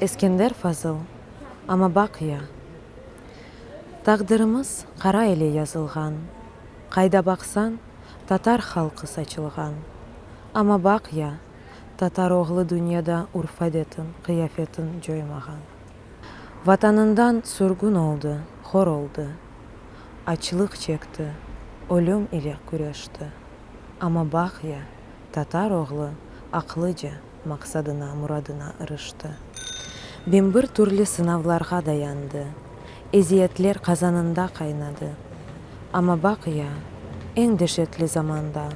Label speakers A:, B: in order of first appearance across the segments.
A: Eskender Fazıl, Amma baq ya, taqdirimiz qara ile yazılğan, qayda baqsan, tatar halqı saçılğan. Amma baq ya, tatar oğlu dünyada urf-adetin, qıyafetin coymağan. Vatanından sürgün oldı, hor oldı, açlıq çekti, ölüm ile küreşti, amma baq ya, tatar oğlu aqlıca maqsadına, muradına ırıştı. Bimbir türlü sınavlarğa dayandı, eziyetler qazanında qaynadı, amma baq ya, eñ deşetli zamanda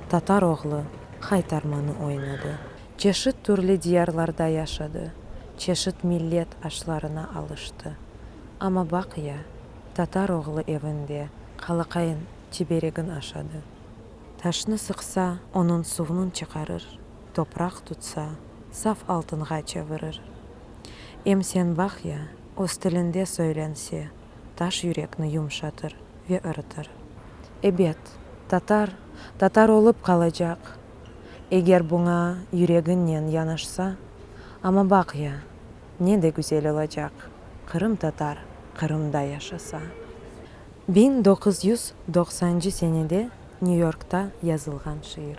A: tatar oğlu qaytarmanı oynadı. Çeşit türlü diyarlarda yaşadı, çeşit millet aşlarına alıştı. Amma baq ya, tatar oğlu evinde qalaqayın çiberegin aşadı. Taşnı sıqsa, onıñ suvnıñ çıqarır, topraq tutsa, saf altınğa çevirir. Em sen baq ya, öz tilinde söylense, taş yürekni yumşatır ve ırıtır. Ebet, tatar, tatar olıp qalacaq, eger buña yüregiñnen yanaşsa, amma baq ya, ne de güzel olacaq, qırımtatar Qırımda yaşasa. Biñ doquz yüz doqsancı senede Nyu-Yorkta yazılğan şiir.